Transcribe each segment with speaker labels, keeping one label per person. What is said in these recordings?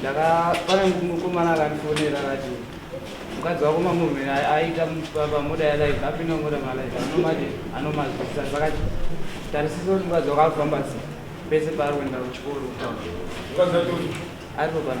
Speaker 1: ndakapana mukomana akandifonera akati mukadzi wako mamuvheni aita pamoda yalive apinda moda malive anomati anomazvisa vakati tarisisa kuti mukadzi wako akufamba se pese paari kuenda kuchikoro ari kupana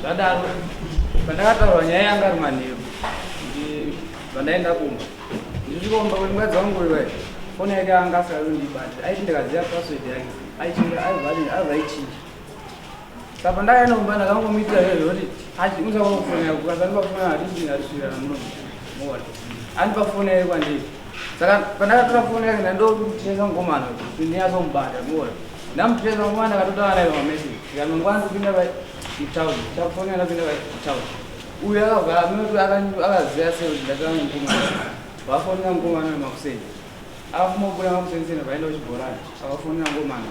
Speaker 1: zvadaro pandakataura nyaya yanga ari manheru pandaenda kumba ndisvikomba kuti mukadzi wangu uyu vai foni yake anga asikazi kundibatira aiti ndikaziva password yake aichinja aivaichinja Saka ndaya nomba ndakangomuitira iyo yoti ati usaona foni yako kasi andipa foni handiti ndasvira namuno muone andipa foni yake kwandiri saka pandakatora foni yake ndandokutiresa mukomana kuti ndinyatsomubata muone ndamutiresa mukomana ndakatotaura naye pamesi ndikanongwana kupinda pa town chafoni anapinda pa town uyo akavhara minoto akaziva sei kuti ndatanga mukomana vafonera mukomana wemakuseni akafumabuda makuseni sena vaenda kuchibhorani akafonera mukomana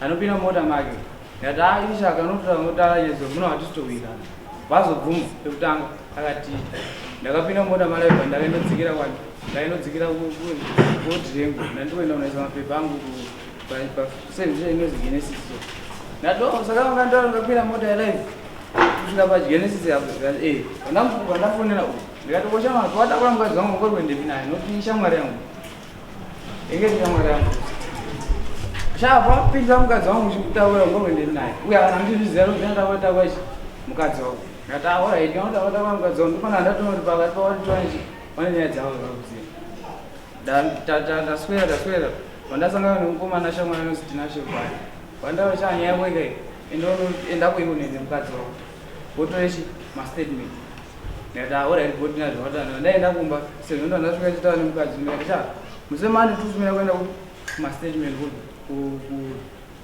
Speaker 1: anopinda mota make ndikati a ah, isha akanotaura yezo muno hatitowirirana vazobvuma pekutanga akati ndakapinda mota malaiva ndakainodzikira kwani ndainodzikira koti rengu ndandikoenda kunaisa mapepa angu paservice inozi genesis so ndato oh, saka vanga ndava ndakapinda mota yalive kusvika pagenesis apo zvikati e vandafonera uku ndikati koshama watakuramukadzi wangu ngori kuendepi naye noti ishamwari yangu Inge shamwari yangu. Shava pinza mukadzi wangu uchikutaura ngomwe ndiri naye. Uye kana kuti zvizero zvenda wata wachi mukadzi wangu. Ndataura idi wata wata wangu mukadzi wangu ndipana ndatonori pakati pawati twanji. Wane nyaya dzavo zvakuziva. Dan tata ndaswera ndaswera. Vandasangana nemukomana shamwari yangu Tinashe Bwana. Vandava chanya yako ikayi. Enda enda kuiwo nende mukadzi wangu. Wotoreshi ma statement. ndikati ah alright body na zvawataura ndaenda kumba sezvo ndo ndasvika chitaura nemukadzi ndikati cha musemani tusumira kuenda kuma statement ku ku ku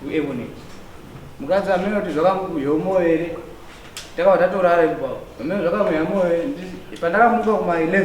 Speaker 1: ku ebonate mukadzi amene kuti zvakamukuya umoyo here takabva tatorara ipapo amene zvakamuya moyo here Ndisi- pandakamuka kuma 11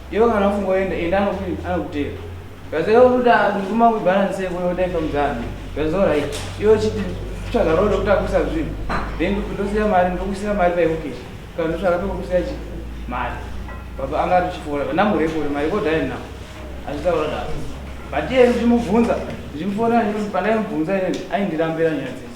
Speaker 1: Iwe kana ufungoenda enda anokudini anokutera. Kaze unoda kunguma ku balance yako yoda ifa mzani. That's all right. Iwe chiti tsvaga road kutakusa zvinhu. Then ndosiya mari ndokusiya mari pa iwokish. Kana ndotsvaga pekusiya chi mari. Baba anga atichifora kana mure kuri mari kodai na. Azvitaura da. But iye ndimubvunza ndimufona ndimubvunza pandai mubvunza ine aindirambira nyaya dzese.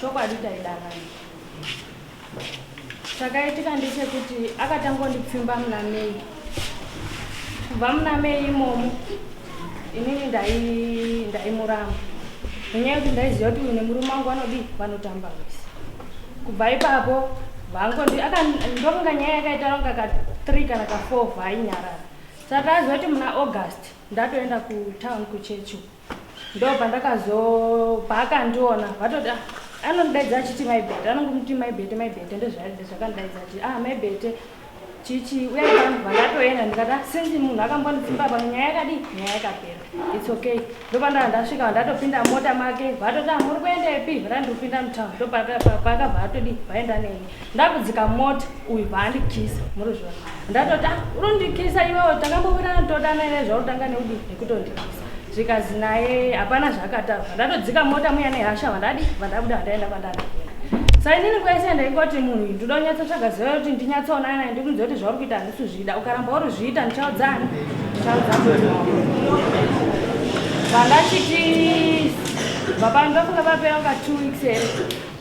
Speaker 2: chokwadi taida vanhu chakaitika ndechekuti akatangondipfimba muna mei kubva muna mei imomo inini ndaimuramba nenyaya yekuti ndaiziva kuti uyu nemurume wangu vanodii vanotamba vese kubva ipapo vangondokunga nyaya yakaita longa ka three kana ka four vainyarara saka aziva kuti muna august ndatoenda kutown kuchechi uku ndo pandakazo paakandiona vatoti ah, anondidaidza achiti maibete anongomuti maibete maibete ndozvaide zvakandidaidza ati ah maibete chichi uya pano vandatoenda ndikati ah, sinzi munhu akambonditsimba pano nyaya yakadi nyaya yakapera its okay ndopandava ndasvika vandatopinda mota make vatoti ah, muri kuenda ipi vatandikupinda mutown ndopakabva atodi vaenda neni ndakudzika mota uyu paandikisa muruzvona ndatoti ah unondikisa iwewe takambobirana todana ine zvautanga neudi nekutondikisa zvikazi naye hapana zvakataura ndatodzika mota muya nehasha vandadi vandabuda vandaenda kwandada sa inini kwaise ndaingoti munhu uyu ndoda kunyatsa tsvaga ziva kuti ndinyatsaonana naye ndikuudza kuti zvauri kuita handisi kuzvida ukaramba uri zviita ndichaudzani ndichaudza vandachiti baba ndofunga vapera kunga two weeks here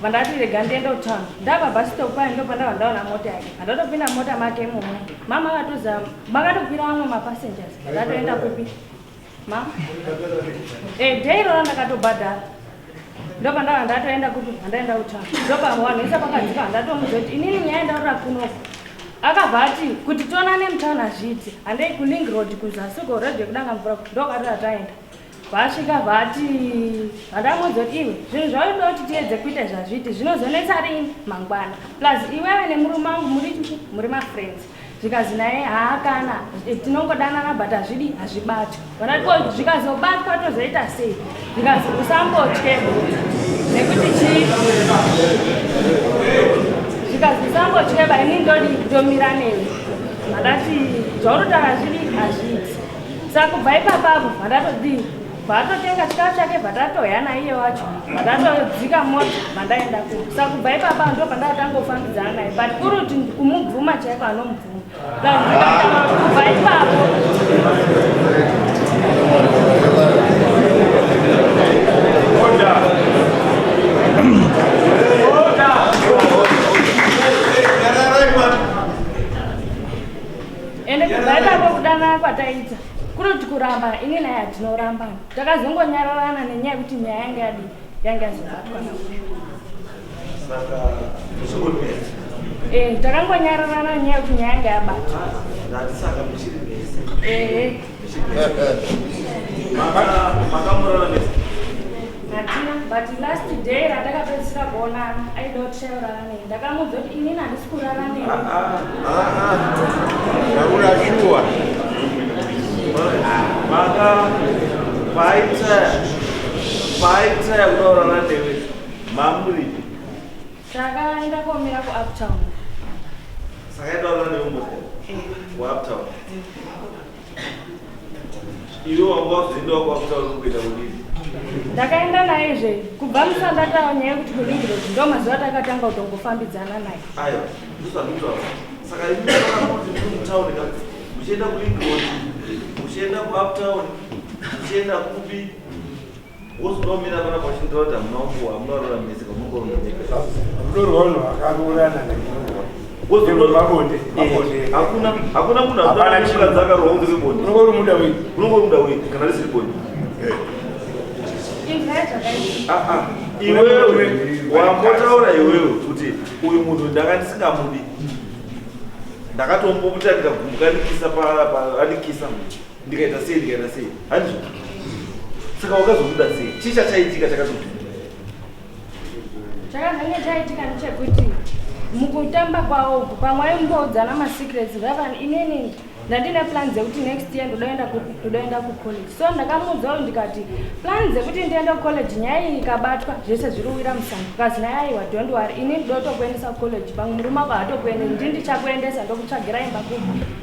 Speaker 2: Vandati rega ndiende kutown ndava bhasitopu paye ndo pandava ndaona mota yake andatopinda mota make imomo mama vatoziva makatokwira vamwe mapassengers ndatoenda kupi mama e eh, dei rona ndakatobhadhara ndo pandava ndatoenda kupi andaenda kutown ndo pamwanhisa pakadzika handatomuziva kuti inini nyaya ndaura kunoko akabva ati kuti tonane mutown hazviiti handei kuling road kuzasi uko road yekudanga mvura ndokatoa taenda vasvika vati vandamuudza kuti iwe zvinhu zvaunoda kuti tiedze kuita zvazviti zvinozonetsa rini mangwana plus iwewe nemurume wangu muri chii muri mafriends zvikazi naye haakana eh, tinongodanana but hazvidi hazvibati vanatiko zvikazobatwa tozoita sei zvikazi usambotye nekuti chii zvikazi usambotye baini ndodi ndomira newe vakati zvaunotaura zvidi hazviiti saka kubva ipapapo bvandatodii bvaatotenga chikafu chake bvatatoya naiye wacho bvatatodzika mota bvandaenda ku saka kubva ipapa ndo bvandaatangofambidzana naye but kuri kuti kumubvuma chaiko anomubvuma kubva ipapo ende kubva ipapo kudanana kwataita kunoti kuramba ini naye hatinorambana takazongonyararana nenyaya yekuti nyaya yange yadi yange yazobatwa na eh, takangonyararana nyaya yekuti nyaya yange yabatwa ehe but last day ratakapedzisira kuonana aida kuti chaurara nei ndakamuudza kuti inini handisi kurara nei
Speaker 3: ndaura shuwa maka paita paita yakudaurana newe mamuri
Speaker 2: takaenda komira kuuptown
Speaker 3: saka yadaurana newe mbo kuuptown Iwe wanga wakuenda kwakuta unokuita kudini? Ndakaenda
Speaker 2: naye zve kubva musanda tawa nyaya kuti kulingiro ndo mazuva takatanga kutongofambidzana naye. Ayo,
Speaker 3: ndosandutawa. Saka imi makakuti muri mutown ka? Muchienda kulingiro, muchienda kuuptown, muchienda kupi? iwewe wambotaura iwewe kuti uyu munhu ndanga ndisingamudi ndakatombomutarika gumukanikisa paanikisa ndikaita sei ndikaita sei handizvo saka wakazobuda sei chii chachaitika chakazobuda chakazange chaitika
Speaker 2: ndechekuti mukutamba kwawo uku pamwe aimboudzana masecrets ngavani inini ndandine plan dzekuti next year ndodaenda kucollege so ndakamuudza uyu ndikati plan dzekuti ndiende kucollege nyaya iyi ikabatwa zvese zviri uwira musango kazi nyaya aiwa dont wary ini ndotokuendesa kucollege pamwe murume ako hatokuende ndi ndichakuendesa ndokutsvagira imba kuku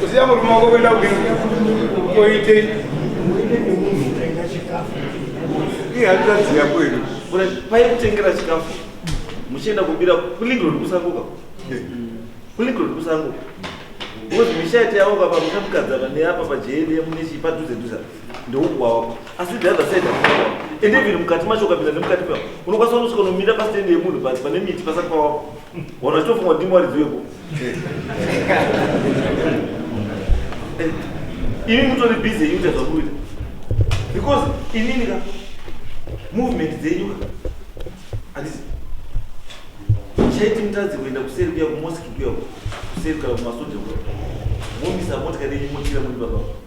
Speaker 4: kusiya murume wako kuenda koitei paikutengera
Speaker 3: chikafu muchienda kubira kulingrod kusanguka kulingrod kusanguka because misha yati yaoka pamusha mukadzana neapa pajeyeliye mune chii padhuze dhuze ndoukwao asi the other side and even mukati macho ukapinda nemukati mao unokwanisa unosvika unomira pasitendi yemunhu but pane miti pasati pawako wana chitofunga kuti imwaridzo yeko eh, imi mutori busy yuta zvakuita because inini ka movement dzenyu ka andisi chaiti mutadzi kuenda kuseri kuya kumoski kuya kuseri kana kumasoja kuya momisa motikari yenyu mochira muri papapo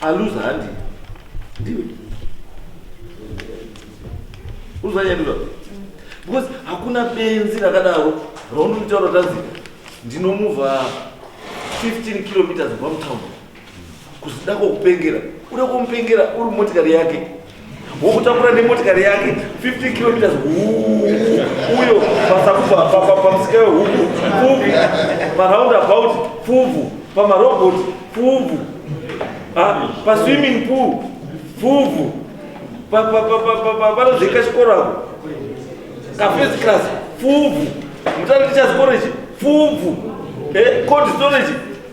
Speaker 3: aluza handi ndiwe uzanyaduza because hakuna benzi rakadaro raunonitaura tanzi ndinomuvha 15 kilometers kubva mutown kuzida kwokupengera uda kwomupengera uri motikari yake wokutakura nemotikari yake 50 kilometers uyo pasakubva pamusika wehuku pfuvu paround about pfuvu pamarobot pfuvu ah, paswimming pool pfuvu vanozvika chikoro ako kafirst class pfuvu mutati tichazikoro ichi pfuvu eh, cold storage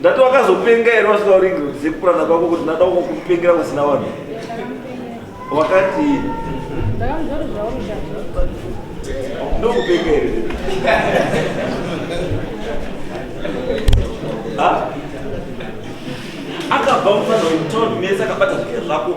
Speaker 3: ndati wakazopenga here wasingaoringiridze kupurana kwako kuti ndada uko kupengera kusina vanhu wakati ndokupenga here akabva mufanha wemutaundi mese akabata zvike zvako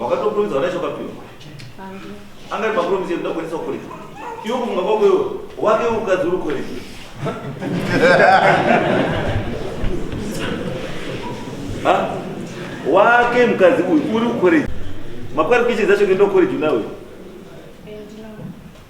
Speaker 3: wakatopromisa vana chokapiwa angari mapromisa ekuda kuendesa kukoreji iwo kufunga kwako iwo wake ukadzi uri koreji wake mukadzi uyu uri kukoreji makwari kuichidza chokuenda kukoreji unawe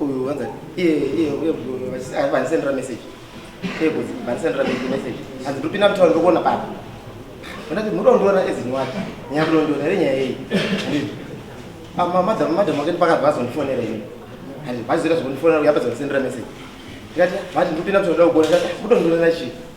Speaker 1: Uyu wanza iye iye uye vanisendera message. Iye kuti vanisendera message. Hanzi ndiri kupinda mutauro ndikuona papa. Ndati muri kundiona ezinyowata. Nyaya kunondiona here nyaya iyi. Ama madam madam wakati pakati vazondifonera ini. Hanzi vazoita zvokundifonera uye apa zondisendera message. Ndikati vati ndiri kupinda mutauro ndikuona kuti mutondiona chii.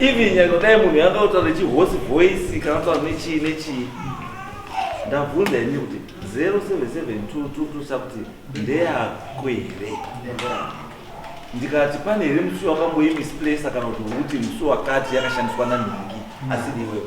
Speaker 3: even nyangwe dai munhu yanga kutaura nechihosi voice kana kutaura nechii nechii ndabvunza ini kuti 077222 kuti ndeyako here ndikati pane here musi wakamboimisplace kana kuti uti musi wakati yakashandiswa nanhingi asiri iwewe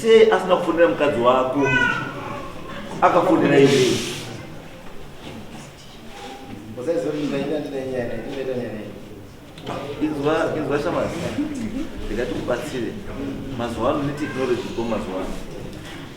Speaker 3: Sei asina kufonera mukadzi wako akafonera iwe? Izwa shamasi, ndikati kubatsire mazuva ano neteknoloji ko mazuva ano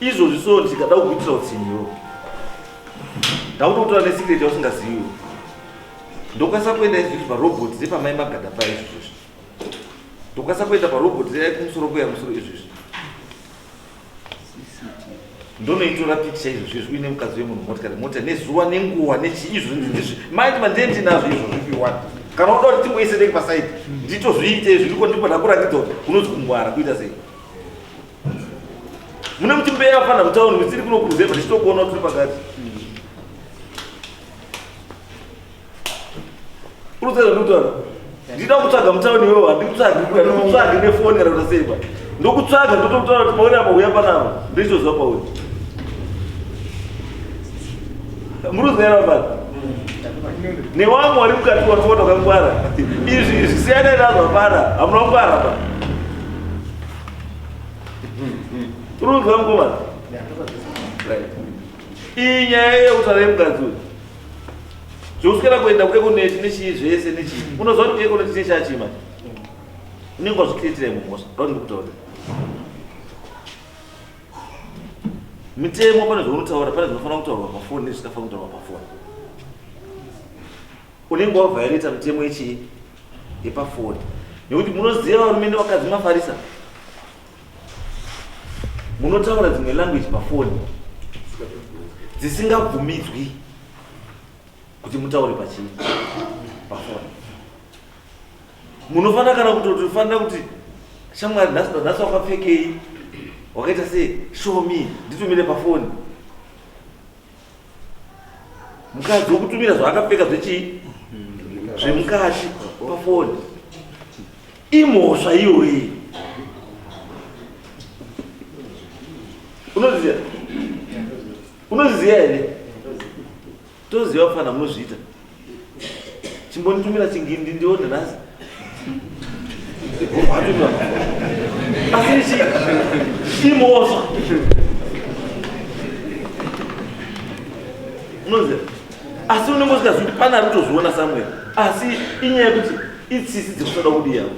Speaker 3: izvozvi so ndikada kukuitira utsiniro ndaunotora nesecret yausingaziviwo ndokwanisa kuenda izvizvi parobot repamai magada pa izvizvozvi ndokwanisa kuenda parobot rekumusoro kuya musoro izvizvi ndonoitora pikicha izvozvizvi uine mukadzi wemunhu motikari mota nezuva nenguva nechii izvozvizvi maiti mandendinazvo izvozvi piwani kana unoda kuti timboiseteki pasaidi nditozviite izvi ndiko ndiko ndakurangidza kuti unozvingwara kuita sei mune kuti mbeya afana mutauni mitsiri kunokuruzepa tichitokuona tiri pakati urudzazvekutaura ndida kutsvaga mutauni iwewo handikutsvagi kuya ndikutsvagi nefoni kana kuti seipa ndokutsvaga ndotokutaura kuti pauri apa uya panapa ndochitozwa pauri muruziva mari newamwe wari mukati watsota kangwara izvi izvi siyana nazvo hapana hamuna kungwara pa ruziva mukomana iyi nyaya yekutaura yemukadzi uyu zvokuswera kuenda kuekoneti nechii zvese nechii unoziva kuti kuekoneti nechachii manje unenge wazvikiriitira imwe mhosva raunenge kutaura Mitemo pane zvaunotaura, pane zvinofanira kutaurwa pafoni nezvisingafanira kutaurwa pafoni. Unenge wavhaireta mitemo yechii yepafoni, nekuti munoziva varume nevakadzi mafarisa, munotaura dzimwe language pafoni dzisingabvumidzwi kuti mutaure pachii pafoni. munofanira kana kutofanira kuti shamwari nhasi wakapfekei wakaita sei show me nditumire pafoni mukadzi wokutumira zvaakapfeka zvechii zvemukati pafoni imhosva iyoyi unoziva unoziva here Toziva kufana munozviita. Chimbonitumira chingindi ndione nhasi. Asi chi imhosva. Unoziva? Asi unenge usikazivi kuti pane ari kutozviona somewhere. Asi inyaya yekuti itsisi dziri kutoda kudi yavo.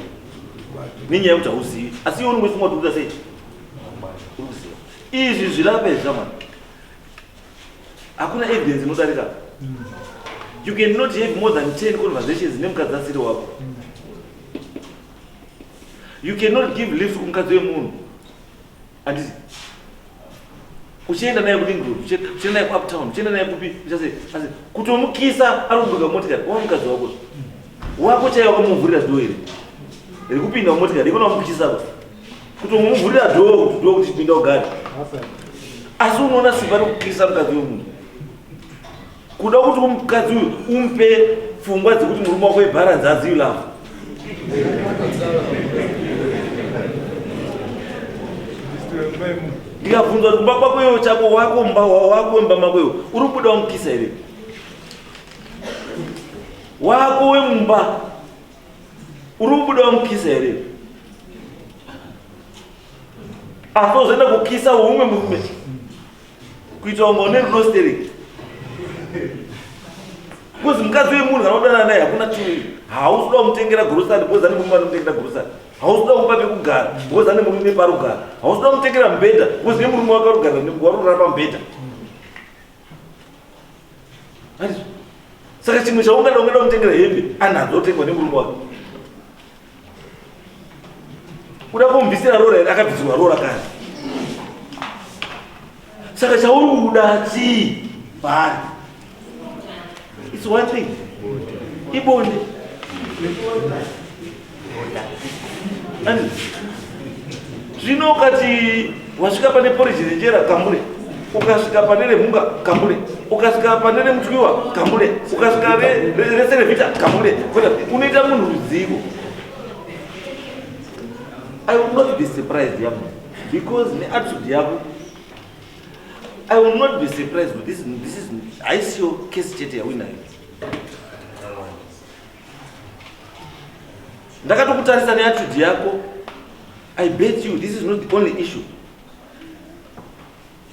Speaker 3: Nenyaya yekuti hauzivi. Asi iwe unenge uchifunga kuti unoita sei? Izvi zvilape zvamana. hakuna evidence inodarika you can not have more than 10 conversations nemukadzi asiri wako you cannot give lift kumukadzi wemunhu andisi uchienda naye kulingrod uchienda naye kuuptown uchienda naye kupi uchase asi kutomukisa ari kubuka motikari wa mukadzi wako wako chaiye wakamuvhurira doo iri rikupinda mumotikari ikona wamukisa kutomuvhurira dhoo kuti dhoo kuti pinda ugare asi unoona simba rekukirisa mukadzi wemunhu kuda kuti mukadzi uyu umupe pfungwa dzekuti murume wako ibharanzi azivi lavo ndikabvunza kuti mba kwako iwo chako wako mba wako mba mako iwo uri kubuda wamukisa here wako wemumba uri kubuda wamukisa here asi ozoenda kukisa umwe murume kuita kunga une rudo stereki bcause mukadzi wemunhu anodana naye hakuna chii hausi kuda kumutengera grosari bcause ane murume anomutengera grosari hausi kuda kumupa pekugara bcause ane murume parugara hausi kuda kumutengera mubhedha bcause nemurume wakarugara warurara pamubhedha saka chimwe chaungada ungada kutengera hembe anadzo otengwa nemurume wake kuda kumbisira rora here akabvisirwa rora kani saka chauri kuda chii paari its one thing ibonde zvino ukati wasvika pane poriji renjera kambure ukasvika pane remhunga kambure ukasvika pane remutwiwa kambure ukasvika rese revita kambure unoita munhu ruzivo i will not be surprised yamo because neatitude yako i will not be surprised with this, this is haisiyo case chete yawinayo ndakatokutarisa neatitude yako i bet you this is not the only issue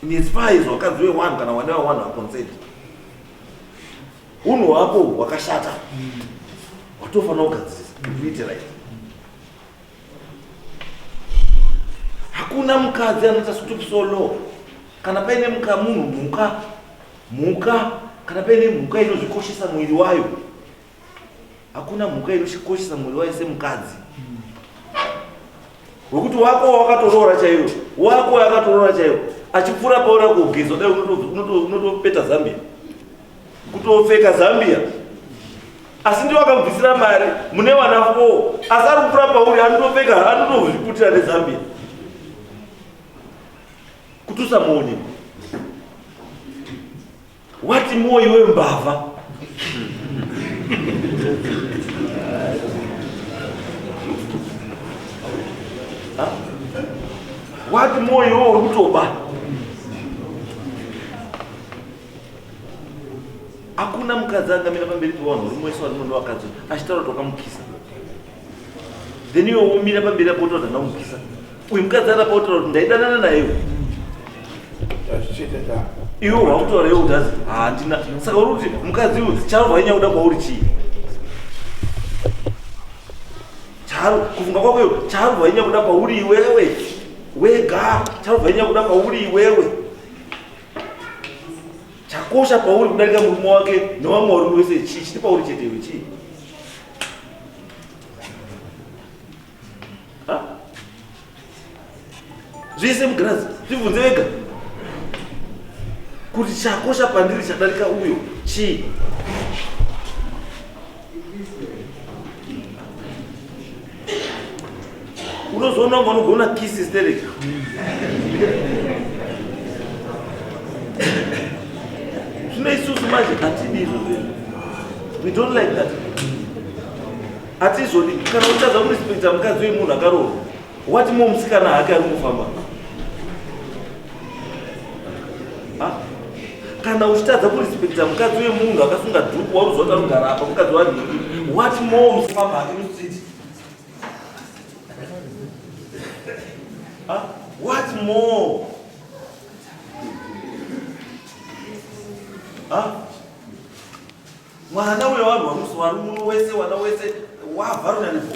Speaker 3: in as far as wakadzi wewanhu kana wana wewanhu aconsent unhu hwako hwakashata watofanira kugadzirisa kuitira hakuna mukadzi anoita stoop so low kana paine muka munhu mhuka mhuka kana paine mhuka inozvikoshesa mwiri wayo hakuna mhuka inozvikoshesa mwiri wayo semukadzi wekuti wako wakatoroora chaiwo wako wakatoroora chaiwo achipfuura paona kugezwa dai unotopeta zambia kutopfeka zambia asi ndiwo akambvisira mari mune vana foo asi ari kukura pauri anotopfeka anotozviputira nezambia kuti usamuone wati mwoyo wembavha wati mwoyo worutoba hakuna mukadzi angamira pamberi pevanhu uri mwese wari muno wakadzi achitaura kuti wakamukisa then iwe womira pamberi apo utoda ndakumukisa uyu mukadzi arapa utaura kuti ndaidanana naiwe iwe wakutaura iwe udazi handina saka uri kuti mukadzi uyu charo vainyaya kuda kwauri chii charo kufunga kwako iyo charo vainyaya kuda kwauri iwewe wega charo vainyaya kuda kwauri iwewe chakosha pauri kudarika murume wake nevamwe varume wese chii chiti pauri chete iwe chii zvese mugirazi zvibvunze vega kuti chakosha pandiri chadarika uyo chii unozoona kunge unogona kisi stereka zvino isusu manje hatidi izvo zvinhu we don't like that hatizvodi kana utadza kurespekta mukadzi wemunhu akaroorwa wati mo musikana hake ari kufamba kana uchitadza kurespecta mukadzi wemunhu akasunga dhuku waruziva tarugara apa mukadzi wanhingi what more musipabhaki mustreet what more mwana uyo vanhu vamusi vari muno wese wana wese wavharunanipo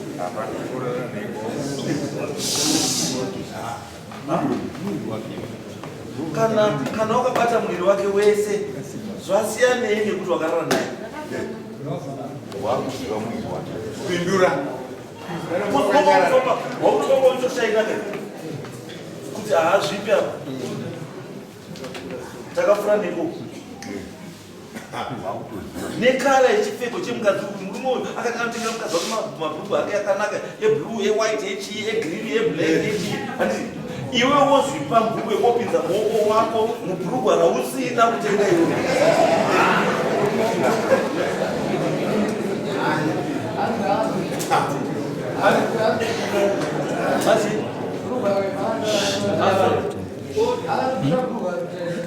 Speaker 3: kana kana wakabata mwiri wake wese zvasiyanei nekuti wakarara naye wakuziva
Speaker 4: mwiri wake pindura
Speaker 3: waunotongoitoshaikake kuti haazvipi apa takafura neko nekara yechipfeko chemukadzi uyu murume uyu akati anotengera mukadzi wake mabhuku ake akanaka eblue ewhite echii egreen eblack echii andii iwe wozvipa mbuku yekopinza muoko wako mubhurugwa rausina kutenga iwe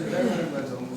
Speaker 3: Thank you.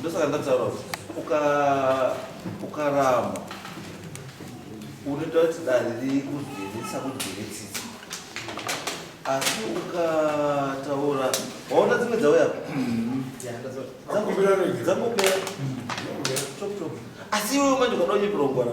Speaker 3: ndosaka ndataura kuti ukarama unoita kuti dare rikuzvirisa kuzviritsisa asi ukataura waona dzimwe dzauya dzangopera asi iwewe manje ukada unyepirongoana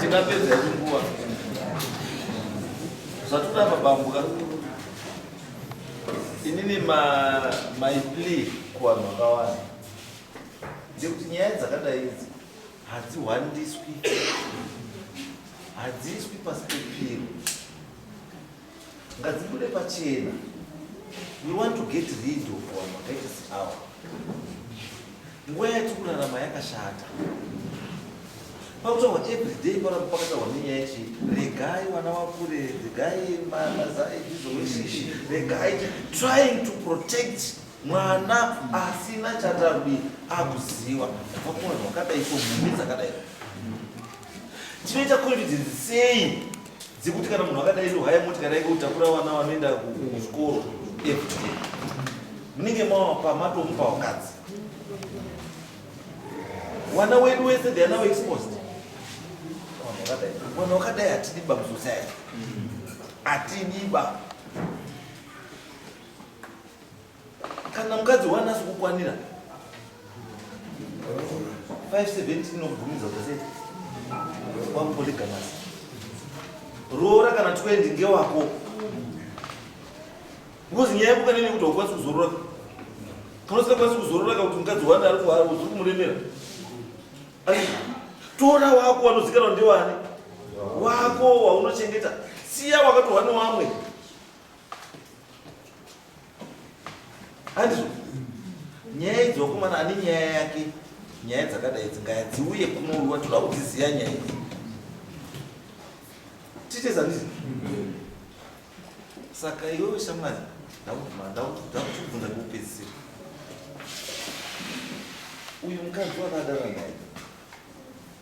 Speaker 3: Tingapedza hedu nguva. Zvatura mabambuka. Inini ma my plea kuvanhu vakawanda. Ndekuti nyaya dzakadai idzi hadzihwandiswi. Hadziswi pasi pepiro. ngadzibude pachena we want to get rid of our makaita seawa nguva yati kurarama yakashata pakutaurwa everyday paramba pakataurwa nenyaya yechi regai vana vakure regai mazaizoweshishi regai trying to protect mwana asina chatabi akuziva vakuona vakadai so mhumi dzakadai tinoita confidence sei dzekuti kana munhu akadai ndohaya moti kana ike kutakura vana vanoenda kuzvikoro everyday munenge mawapa matomupa wakadzi wana wedu wese they are now exposed mwana wakadai atidiba musociety atidiba kana mukadzi wani asi kukwanira 570 inobvumidza kuti sei wamupoligamasi roora kana 20 ngewako because nyaya yekuka nene kuti haukwanisi kuzorora kana usingakwanisi kuzorora ka kuti mukadzi wani ari kuhari uziri kumuremera tora wako wanozikanwa ndewani wako waunochengeta siya wakatohwa newamwe andizvo nyaya idzi wakomana ane nyaya yake nyaya dzakadai dzingaya dziuye kunoruwa toda kudziziva nyaya idzi titeza ndizi saka iwewe shamwari ndakutibvunza kupedzisira uyu mukadzi wakadara naye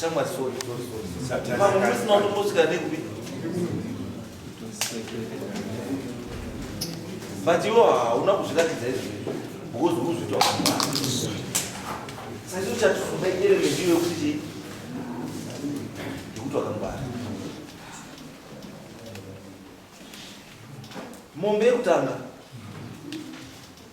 Speaker 3: Shamwari sorry sorry sorry. Mama musi maunombosvika nekupi? But iwo hauna kuzviratidza izvi because unozvita wakamwana. Saka uchatofumba element iwe kuti chii? Ndikuti wakangwara. Mombe yekutanga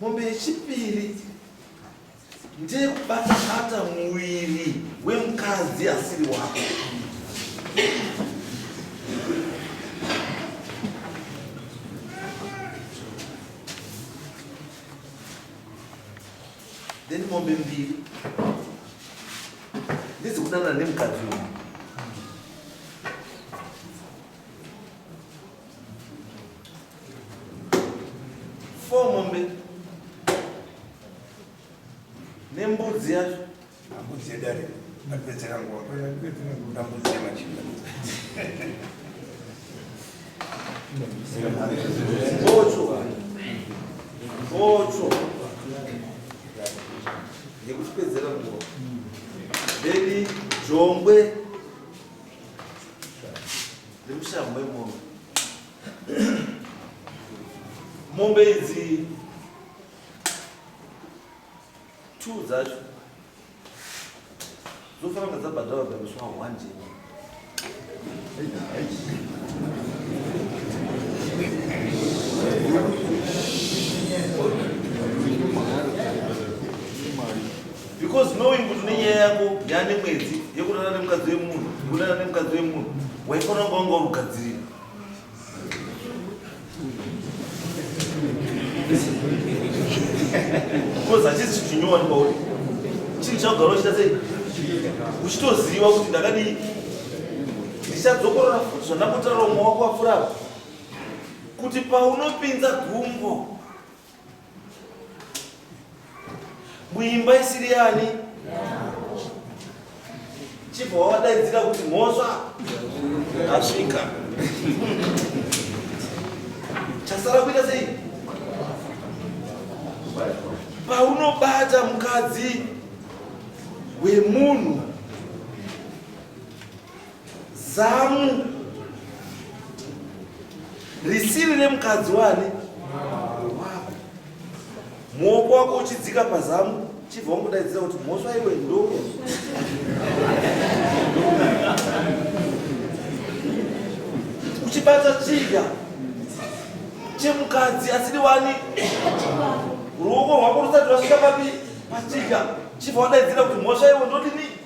Speaker 3: Mombe yechipiri ndeyekubata bata muviri wemukadzi asiri wako. Then mombe mbiri ndedzekudanana nemukadzi uyu. four mombe nembudzi yacho ambudzi yedare
Speaker 4: apedzera nguva ambudzi yemachinda
Speaker 3: mbocho mbocho yekutipedzera nguva then jongwe Nemushambo wemombe. Mombe idzi two dzacho dzofanira kunge dzabhadhara bamiswa one jeni. because knowing kuti une nyaya yako yaane mwedzi yekurara nemukadzi wemunhu yekurara nemukadzi wemunhu waifanira kunga wanga urugadzirira because hachisi chinhu chinyowani kwauri chinhu chakugara uchita sei uchitoziva kuti ndakadii ndichadzokorora futi zvandakotaura umwe wako wapfurapa kuti paunopinza gumbo muimba isiri yani chibva wawadaidzira kuti mhosva asvika chasara kuita sei paunobata mukadzi wemunhu Zamu risiri remukadzi wani wako muoko wako uchidzika pazamu chibva wangudaidzira kuti mhosva iwe ndo uchibata chidya chemukadzi asiri wani ruoko rwako rusati rwasvika papi pachidya chibva wadaidzira kuti mhosva iwe ndodini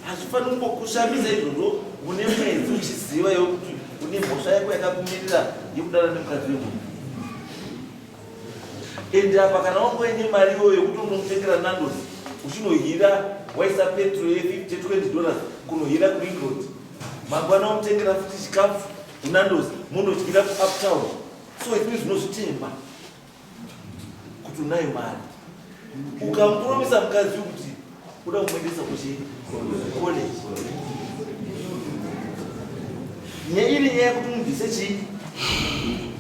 Speaker 3: hazvifaniri kungokushamisa izvozvo une mwedzi uchiziva yokuti une mhosva yako yakakumirira yekudana nemukadzi wemunhu ende apa kana wangoine mari iyoyo yekuti unomutengera nandos uchinohira waisa petro ye 50 20 dollars kunohira kuengland mangwana wamutengera futi chikafu unandos munodyira kuuptown so izvii zvinozvitemba kuti unayo mari ukamupromisa mukadzi kuti uda kumuendesa kuchi college nyaya iri nyaya yekuti umubvise chii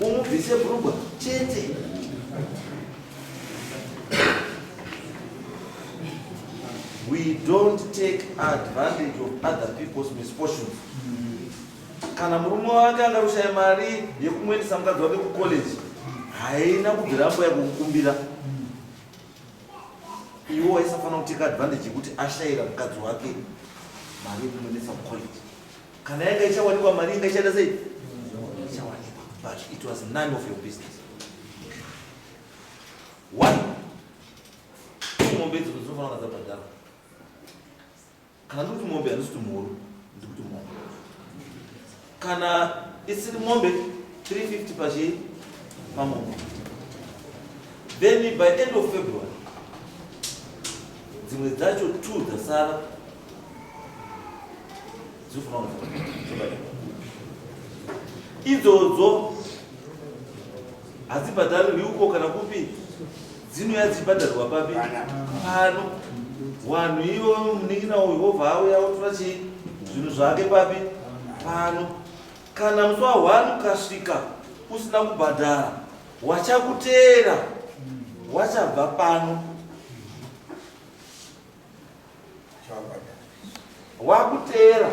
Speaker 3: umubvise brugwa chete we don't take advantage of other people's misfortunes Kana murume wake anga kushaya mari yekumuendesa mukadzi wake kucollege haina kubvira ambo yakukukumbira iwo aisafanira kuteka advantage yekuti ashayira mukadzi wake mari yekumuendesa kucollege kana yanga ichawanikwa mari inga ichaita sei ichawanikwa but it was none of your business one mombe idzo dzinofanira kazabhadhara kana ndikuti mombe handisi kuti mhuru ndikuti mombe kana isiri mombe 350 pachii pamombe then by end of february dzimwe dzacho two dzasara dzinofanira idzodzo hadzibhadharirwi uko kana kupi dzinouya dzichibhadharirwa papi pano wanhu ivo munin'ina uyu wobva auya otora chii zvinhu zvake papi pano kana musi wa one ukasvika usina kubhadhara wachakuteera wachabva pano wakuteera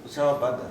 Speaker 3: uchavabhadhara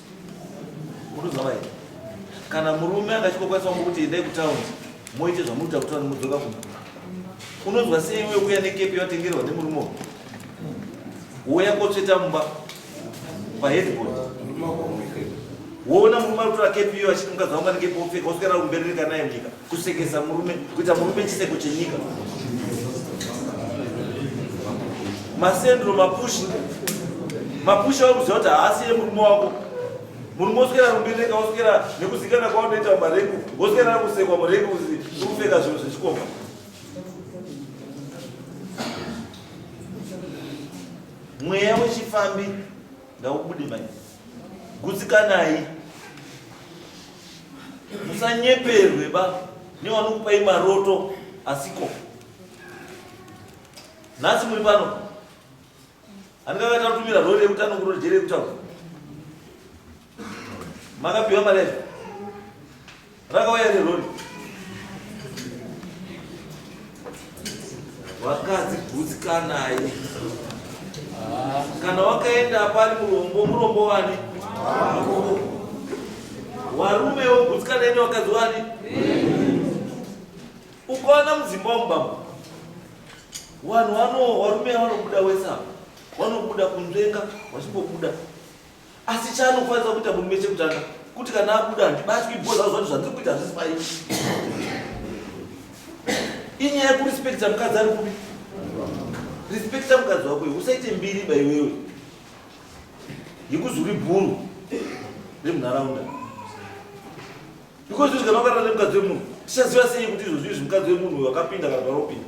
Speaker 3: Muruzava here? Kana murume akachikokwanisa wangu kuti endai kutaundi moite zvamunoita kuti vanhu mudzoka kumba. Unonzwa sei iwe uya nekepi yatengerwa nemurume uyu? Woya kotsveta mumba paheadboard. Woona murume ari kutora kepi iyo achiti mukadzi wangu ane kepi wopfeka woswera kumberi rika naye munyika. kusekesa murume kuita murume chiseko chenyika masendro mapushi mapushi aukuziva kuti haasi ye murume wako murume woswera rumbireka woswera nekuzikana kwaunoita marengu woswera nakusekwa murengu ukupfeka zvinhu zvechikomba mweya wechifambi ngaubude mai gutsikanai musanyeperwe ba nevanokupai maroto asiko nhasi muri pano handikakatatumira rori yekutano kurori jeri yekutaura makapiwa mari yacho Rakauya neroni. Vakadzi gutsikanayi. Kana wakaenda pari murombo, murombo wani? Wako. Warume wogutsikanayi nevakadzi wani? Ukaona mudzimba womubamba. Wanhu wano warume wanobuda wesa. Wanobuda kunzvenga, wachingobuda. asi chaanofanira kuita murume chekutanga kuti kana abuda handibatwi because auzvati zvandiri kuita hazvisi pai inyaya yekurespekta mukadzi ari kupi respekta mukadzi wako iwe usaite mbiri ba iwewe yekuzuri bhuru remunharaunda because izvi kana wakarara nemukadzi wemunhu tichaziva sei kuti izvozvi izvi mukadzi wemunhu uyo akapinda kana paropinda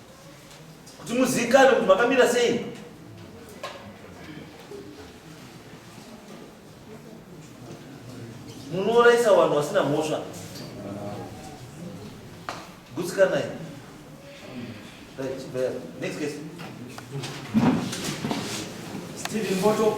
Speaker 3: kuti muziikane kuti makamira sei munoraisa vanhu vasina mhosva gutsikanai right, next case Steven Mboto